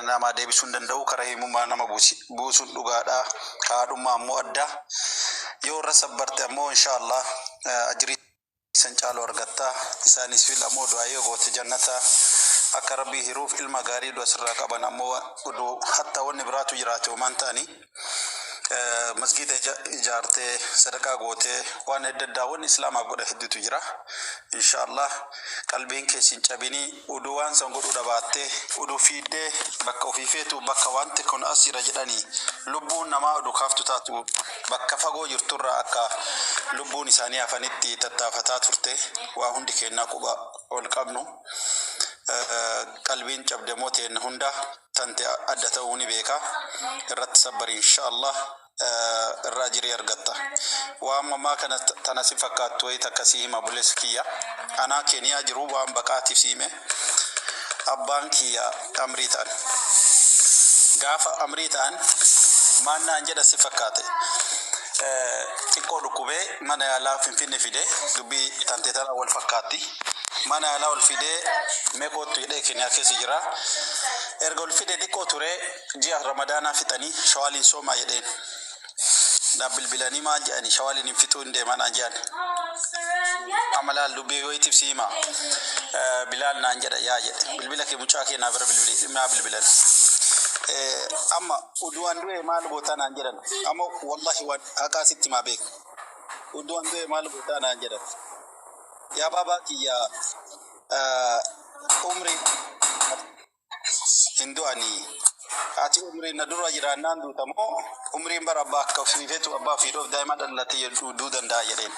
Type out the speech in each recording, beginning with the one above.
namaa deebisuu hin danda'u kara himumaa nama buusuun dhugaadha ka haadhummaa ammoo adda yoo irra sabbarte ammoo inshaallah ajrii san caalu argatta isaanis fil ammoo du'aa yoo goote jannata akka rabbii hiruuf ilma gaarii du'a sirraa qaban ammoo udu hatta wanni biraatu jiraate homaan ta'anii eh, masgiida ija- ijaartee sadaqaa gootee waan adda addaa wanni islaamaaf godha hedduutu jira inshaallah qalbiin kee sin cabinii uduu waan san godhuu dhabaattee uduu fiiddee bakka ofii feetu bakka wanti kun as jira jedhanii lubbuun namaa oduu kaaftu taatu bakka fagoo jirturraa akka lubbuun isaanii hafanitti tattaafataa turte waa hundi keennaa quba ol qabnu Eh, qalbiin cabde moo teenna hundaa tante adda ta'uu ni beeka irratti sabbari insha Allah irraa jirii argatta waan mamaa kana tana si fakkaattu wayii takka si hima buleessi kiyya anaa keeniyaa jiru waan baqaatiif si hime abbaan kiyya amrii ta'an gaafa amrii ta'an maannaan jedha si fakkaate xiqqoo dhukkubee Mana yaalaa finfinne fide dubbi tante tana wal fakkaatti. Mana yaalaa ol fide mee koottu jedhee keniyaa keessa jira. Erga ol fide xiqqoo ture ji'a ramadaanaa fixanii shawaaliin soomaa jedheen. Naaf bilbilanii maal jedhani shawaaliin hin fixuu hin deemaa naan jedhani. Amma laal dubbii wayiitiif si hima. Eh, Bilaal naan jedha yaa jedhe bilbila kee mucaa kee naa bira bilbili naa bilbilan. Eh, Amma uduwaan du'e maal gootaa naan jedhan. Amma wallahi waan Akaa sitti maa beeka. Udduu an du'e maal gootaa naan jedhan. Yaa baabaa kiyya ah, umrii hin du'anii. Ati umrii na dura jiraannaan duuta moo umriin bara abbaa akka ofiifetu abbaa ofiidhoof daa'ima dhallattee jedhu du'uu danda'a jedheen.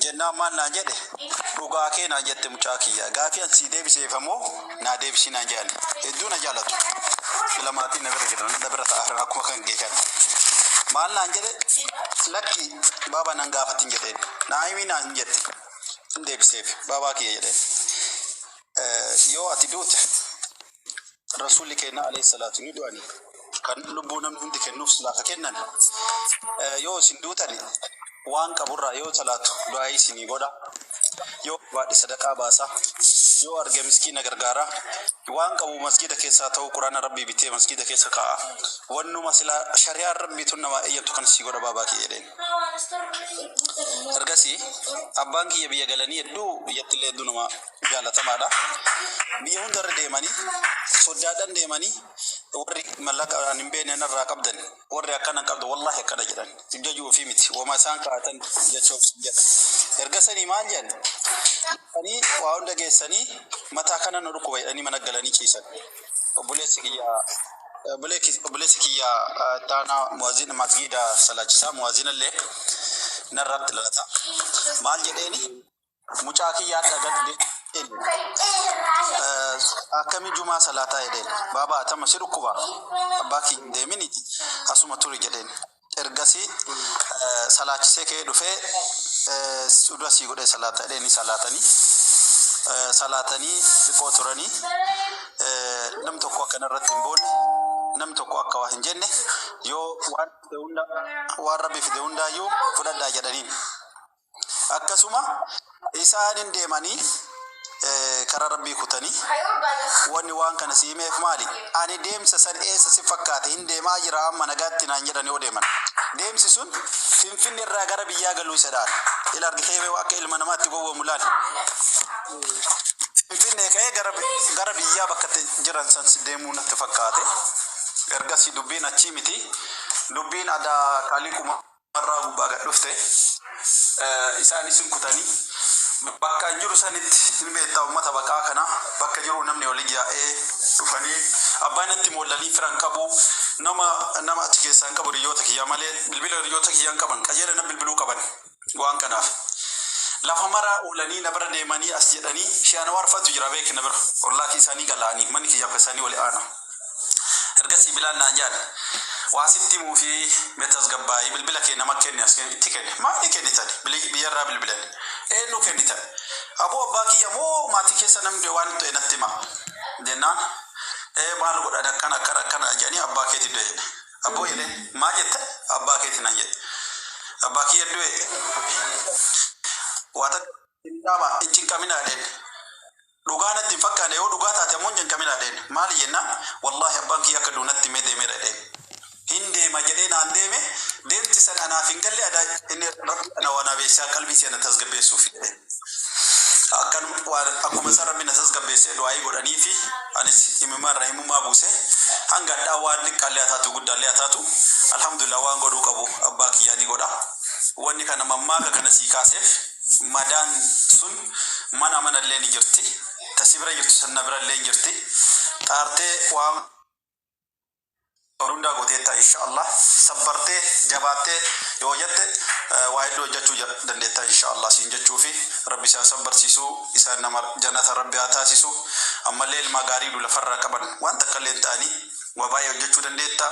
jennaan maal naan jedhe dhugaa kee naan jette mucaa kiyya gaafii an sii deebiseef ammoo naa deebisii naan jedhan hedduu na jaalatu sila maatiin na bira jiran na bira ta'a jiran akkuma kan kee kan maal naan jedhe lakki baabaa nan gaafatin jedheen naa himii naan jette hin deebiseef baabaa kiyya jedheen Eh, yoo ati duute Rasuulli keenya alayhi salaatu ni du'ani. Kan lubbuu namni hundi kennuuf silaa ka kennan. Eh, Yoo isin duutani waan qaburraa yoo talaatu du'aa isinii godha. Yoo baadhe sadaqaa baasa. Yoo arge miskiina gargaara. Waan qabu masgiida keessaa ta'uu quraana rabbii bitee masgiida keessa kaa'a. Wannuma silaa shari'aan rabbii tun namaa eeyyamtu kan sii godha baabaa kiyya jedheen. Ergasii abbaan kiyya biyya galanii hedduu biyyattillee hedduu nama jaalatamaadha. Biyya hundarra deemanii soddaadhaan deemanii warri mallaqa an hin beekne narraa qabdan warri akkana hin qabdan wallaahi akkana jedhan jajuu ofii miti wama isaan kaa'atan jecha of jedha. Erga sanii maal jedhan dhufanii waa hunda geessanii mataa kana nu dhukkuba jedhanii mana galanii ciisan. Obboleessi kiyya obboleessi obboleessi kiyya eh, taanaa muwaazina masgiida salaachisaa muwaazinallee narratti lalata. Maal jedheeni? Mucaa kiyyaa dhagadhe akkami jumaa salaataa jedheen baaba atama si dhukkuba abbaa kiyya hin deemini asuma turi jedheen ergasii eh, salaachisee kee dhufee eh, suda sii godhee salaata jedheen ni salaatanii eh, salaatanii xiqqoo turanii eh, nam tokko akkana irratti hin boone nam tokko akka waa hin jenne yoo waan fide hunda waan rabbi fide hundaayyuu fudhadhaa jedhaniin. akkasuma isaan hin deemanii eh, karaa rabbii kutanii wanni waan kana si himeef maali ani deemsa san eessa si fakkaate hin deemaa jira amma nagaatti naan jedhan yoo deeman deemsi sun finfinne irraa gara biyyaa galuu isa dhaal ila argitee bee akka ilma namaatti gowwoomu laal finfinnee ka'ee gara bi- gara biyyaa bakka itti jiran san si deemuu natti fakkaate ergasii dubbiin achii miti dubbiin adaa qaalii kuma lafarraa gubbaa gad dhufte, isaanis hin kutani. Bakka an jiru sanitti hin beetta ummata baqaa kana, bakka jiruu namni wali yaa'ee dhufanii abbaa natti moollanii fira hin qabu, nama nama achi keessaa hin qabu hiriyyoota kiyyaa malee, bilbila hiriyyoota kiyyaa hin qaban, qajeela na bilbiluu qaban waan kanaaf. Lafa mara oolanii na bira deemanii as jedhanii, Shee Anwaar fa'atu jira beeki na bira, ollaa kiisaanii gala'anii, manni kiyyaaf ka isaanii wali aana. Ergasii Bilaal naan jedhan, Waa sitti himuu fi mee tasgabbaa'i, bilbila kee nama kenni as kenni, itti kenne. Maali kennitani? Bili, biyya irraa bilbilani. Eennu kennitani? Aboo abbaa kiyya moo maatii keessa namni du'e waan ta'e natti himaa? Jennaan, Ee maal godhani akkana akkana akkana na jedhanii abbaa keeti du'e jedhe. Abboo jedheen, Maal jette? Abbaa keeti naan jedhe. Abbaa kiyya du'e? Waa takka hin dhaama, hin cinqaminaa jedheen. Dhugaa natti hin fakkaane yoo dhugaa taate ammoo hin cinqaminaa jedheen. Maali jennaan wallaahi abbaan kiyya akka du'u natti himee deemeera jedheen. Hin deema jedhee naan deeme deemti san anaaf hin galle ada inni rabbi ana waa naa beeksisaa qalbii tiyya na tasgabbeessuufi jedheen. Akkan waan akkuma san rabbi na tasgabbeessee du'aayii godhaniifi anis imimmaan irraa imimmaa buuse hanga hadhaa waan xiqqaallee haa taatu guddaallee haa taatu alhamdulillah waan godhuu qabu abbaa kiyyaa ni godha. Wanni kana mammaaka kana sii kaaseef. Madaan sun mana manallee ni jirti, ta si bira jirtu san na birallee hin jirti, xaartee waan qabdu hundaa gooteetta insha Allah, sabbartee, jabaattee yoo hojatte waa hedduu hojjachuu dandeetta insha Allah siin jechuufi, Rabbi si haa sabbarsiisu, isaan nama janata Rabbi haa taasisu, ammallee ilmaa gaarii du lafarraa qaban waan takkallee hin ta'anii, waa baay'ee hojjachuu dandeetta.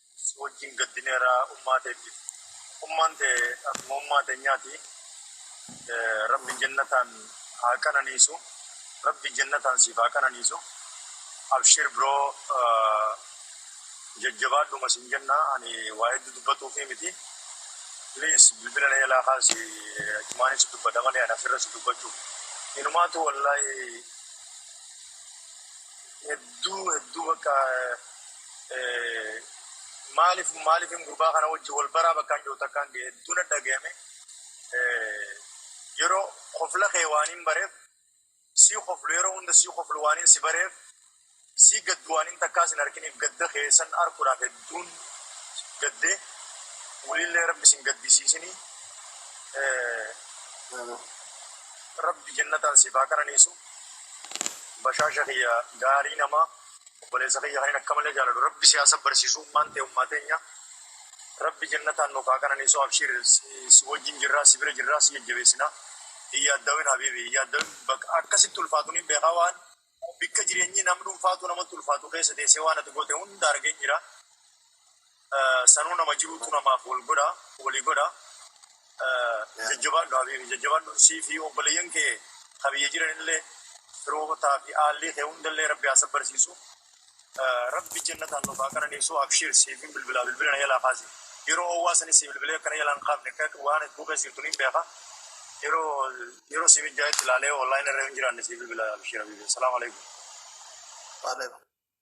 Si wajjin gaddineera ummaa teettiif. Ummaan tee akkuma ummaa teenyaati. Rabbi jannataan haa qananiisu. Rabbi jannataan siif haa qananiisu. Abshiir bro jajjabaadhuma siin jenna. Ani waa hedduu dubbatuufii miti. Please bilbila na jalaa kaasi achumaanin si dubbadha malee ani asirra si dubbachuuf. Inumaatu wallaahi hedduu hedduu bakka. Maaliif maaliifin gurbaa kana wajji wal baraa bakkaan jiru takkaan ga'e hedduu na dhagayame. Yeroo kofla kee waaniin bareef sii koflu yeroo hunda sii koflu waaniin si bareef sii gaddu waaniin takkaa sin arkiniif gadda kee san arkuudhaaf hedduun gadde waliillee rabbi sin gaddisiisini rabbi jannataan siif haa qananiisu bashaasha kiyya gaarii namaa. Obboleessa kiyya kanin akka malee jaaladu rabbi si haa sabbarsiisu ummaan tee ummaa teenya rabbi jannataan nuuf haa qananiisu abshiir si wajjin jirraa si bira jirraa si jajjabeessina hin yaaddawin habiibi hin yaaddawin bak akka sitti ulfaatu nin beekaa waan bikka jireenyi nam dhunfaatuu namatti ulfaatu keessa teessee waan ati goote hunda argeen jira. Sanuu nama jiruutu namaaf wal godha walii godha jajjabaadhu habiibi jajjabaadhu sii fi obboleeyyan kee ka biyya jiranillee firootaa fi aallii kee hundallee rabbi haa sabbarsiisu rabbi jannataan nuuf haa qananiisu abshiir siifin bilbilaa bilbila na jalaa kaasi yeroo owwaa sanis sii bilbilee akka na jalaa hin kaafne akka waan hedduu keessa jirtu niin beeka yeroo yeroo sii mijjaayetti ilaalee online irra hin jiraanne sii bilbila abshiir habiibi assalaamu alaikum Waalaikum.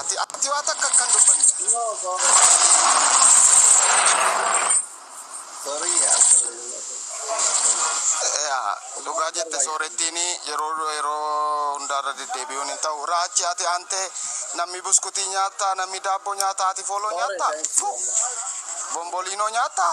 Ati ati waa takka akkan dubbanne. Yaa, Dhugaa jette soorettiin yeroo yeroo hundaarra deddeebi'uun hin ta'u. Raachi ati aantee namni buskutii nyaattaa, namni daabboo nyaattaa, ati fooloo nyaattaa? Fu! Bomboliinoo nyaattaa?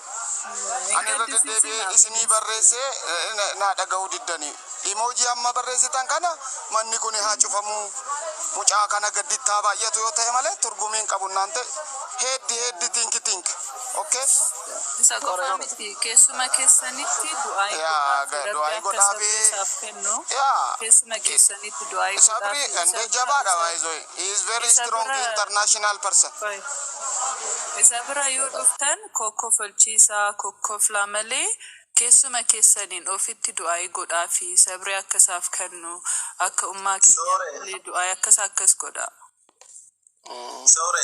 Ani irra deddeebi'ee isinii barreesse naa dhaga'uu diddani. Emoji amma barreessitan kana manni kuni haa cufamu. Mucaa kana gadditti haa baay'atu yoo ta'e malee turgumii hin qabu naante heeddi heeddi think think okay. Isa qofaa miti keessuma keessanitti du'aayi Yaa godhaafi rabbi du'aayi akka godhaafi. sabrii isaaf kennu Yaa keessuma keessanitti du'aayi sabri godhaafi ende isaaf jabaadha baay'isuu. baay'isuu. He is very Isa strong bira- international person. Qoy. Isa bira yoo dhuftan kokkofalchiisaa, kokkoflaa malee keessuma keessaniin ofitti du'aa'ii godhaafi sabri akka isaaf kennu akka ummaa keenyaaf illee du'aa'ii akkas akkas godhaa. Sore.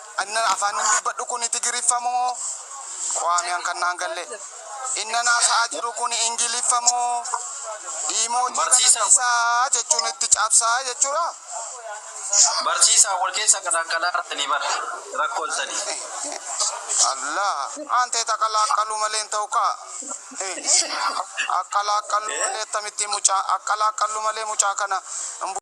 Annan afaannin dubbadhu kuni Tigiriffa moo? Quwaamiyan kan naan galle. Innan haasa'aa jiru kuni Ingiliffa moo? Iimoojii kana Barsiisaa. dhiisaa jechuun itti cabsaa jechuudhaa? Barsiisaa wal keessa qalaaqalaartanii bar rakkoltanii. Allaa! Antee taqalaaqqaluu malee hin ta'u kaa. Akkalaaqqalluu malee akkamittiin mucaa akkalaaqqalluu malee mucaa kana hin bu-